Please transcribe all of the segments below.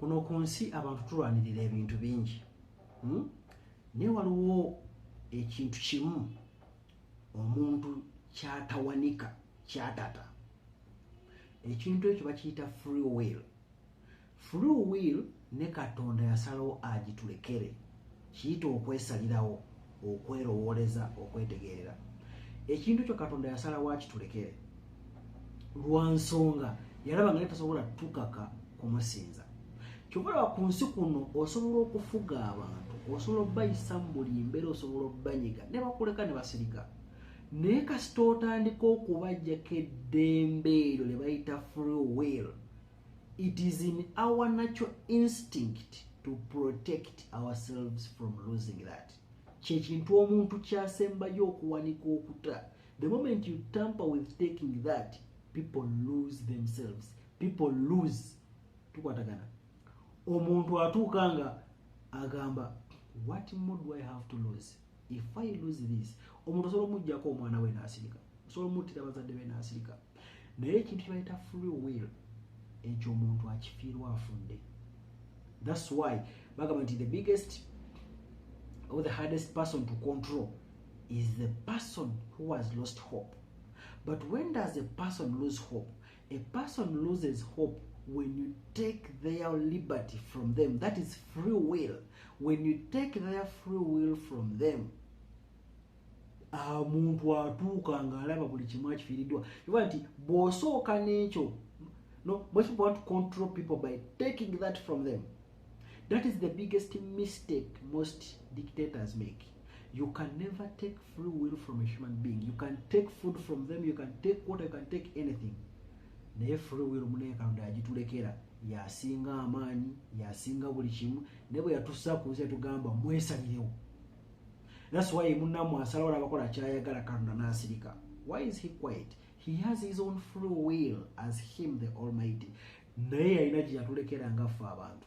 kuno ku nsi abantu tulwanirira ebintu bingi hmm? naye waliwo ekintu kimu omuntu kyatawanika kyatata ekintu ekyo bakiyita free will free will ne katonda yasalawo agitulekere kiyita okwesalirawo okwerowooleza okwetegeerera ekintu kyo katonda yasala waki tulekere lwa nsonga yalaba nga netasobola tukaka kumusinza kyobalaba ku nsi kuno osobola okufuga abantu osobola obayisa mu buli mbeera osobola obanyiga ne bakuleka ne basirika naye kasita otandika okubajjako eddembe eryo lye bayita free will it is in our natural instinct to protect ourselves from losing that kyekintu omuntu kyasembayo okuwanika okuta the moment you tamper with taking that people lose themselves people lose tukwatagana omuntu atuuka nga agamba what more do i have to lose if i lose this omuntu osobola omujjako omwana we nasirika osobola omuttira bazadde be nasirika naye ekintu kyebayita free will ekyo omuntu akifiirwa afudde thats why bagamba nti the biggest or the hardest person to control is the person who has lost hope but when does a person lose hope A person loses hope when you take their liberty from them. That is free will. When you take their free will from them, omuntu ah, atuuka ng'alaba buli kimu akifiiriddwa oba nti bw'osooka n'ekyo no most people want to control people by taking that from them That is the biggest mistake most dictators make. You can never take free will from a human being. You can take food from them, you can take water, you can take anything. Naye free will mune kando ya jitulekera. Ya singa amani, ya singa bulichimu. Nebo ya tusa kuze tu gamba mwesa niyo. That's why muna mwasala wala wakona chaya gala kando na asirika. Why is he quiet? He has his own free will as him the almighty. naye yalina gye yatulekera nga ffe abantu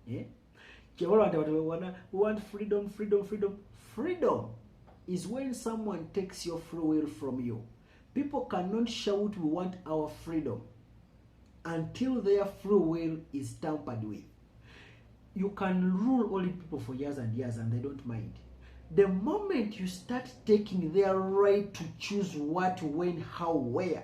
eh? kyewala nti abantu bewana we want freedom freedom freedom freedom is when someone takes your free will from you people cannot shout we want our freedom until their free will is tampered with you can rule only people for years and years and they don't mind the moment you start taking their right to choose what when how where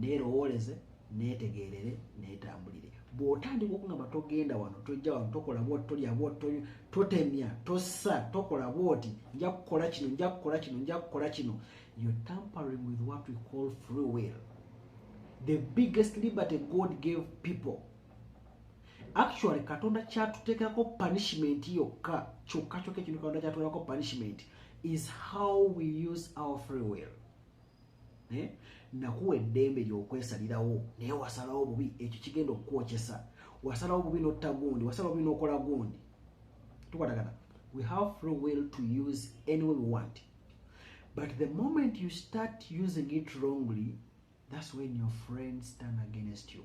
neerowooleze neetegeerere neetambulire bw'otandika okungamba togenda wano tojja wano tokola bwoti tolya bwoti totemya tossa tokola bwoti nja kukola kino nja kukola kino nja kukola kino yo tampering with what we call free will the biggest liberty god gave people actually katonda kyatuteekako punishment yokka kyokka kyokka ekintu katonda kyatuteekako punishment is how we use our free will eh? nakuwa eddembe lyokwesalirawo naye wasalawo bubi ekyo kigenda okukwokyesa wasalawo bubi notta gundi wasalawo bubi nokola gundi tukwatagana we have free will to use any way we want but the moment you start using it wrongly that's when your friends turn against you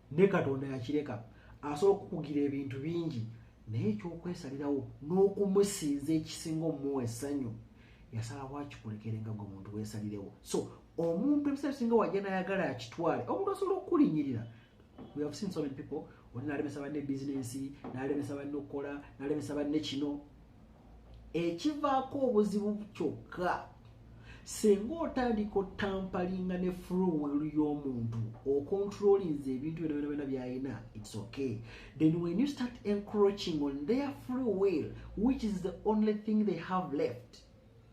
ne katonda yakireka asobola okukugira ebintu bingi naye ekyokwesalirawo n'okumusinza ekisinga omuwa essanyu yasalawo akikulekere nga gwe muntu wesalirewo so omuntu ebiseera bisinga wajja nayagala akitwale omuntu asobola okukulinyirira we have seen so many people oli nalemesa banne bizinensi nalemesa banne okukola nalemesa banne kino ekivaako obuzibu kyokka singa otandika otampalinga ne fruwel y'omuntu okontrolinze ebintu byona byona byona byalina its okay then when you start encroaching on their fruwel which is the only thing they have left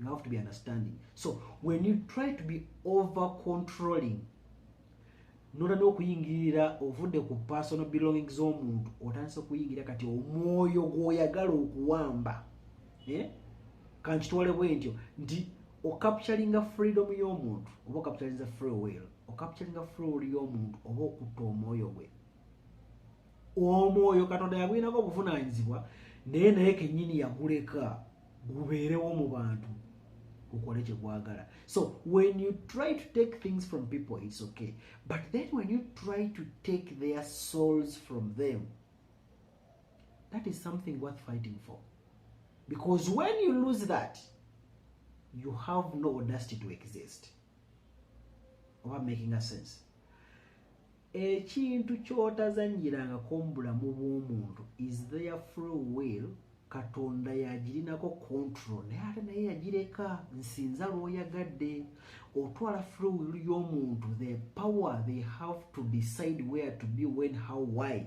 you have to be understanding so when you try to be over controlling nola n'okuyingirira ovudde ku personal belonging z'omuntu otandise okuyingira kati omwoyo gw'oyagala okuwamba eh? kankitwale bwe ntyo nti okapturinga freedom y'omuntu oba okapturinza free will okapturinga free will y'omuntu oba okutta omwoyo gwe omwoyo katonda yagulinako obuvunaanyizibwa naye naye kennyini yaguleka gubeerewo mu bantu gukole kye gwagala so when you try to take things from people it's okay but then when you try to take their souls from them that is something worth fighting for because when you lose that you have no audacity to exist oba making a sense ekintu kyotazanyirangako mubulamu bwomuntu is their free will katonda yagirinako control naye ate naye yagireka nsinza lwoyagadde otwala free will yomuntu the power they have to decide where to be when how why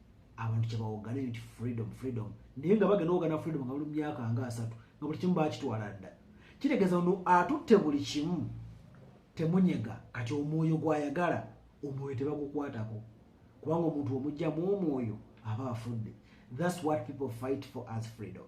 abantu kyebawogana nti freedom freedom naye nga bagenda ogana freedom nga buli myaka nga asatu nga buli kimu bakitwala dda kitegeeza no atutte buli kimu temunyega kati omwoyo gwayagala omwoyo tebagukwatako kubanga omuntu omugyamu omwoyo aba afudde thats what people fight for as freedom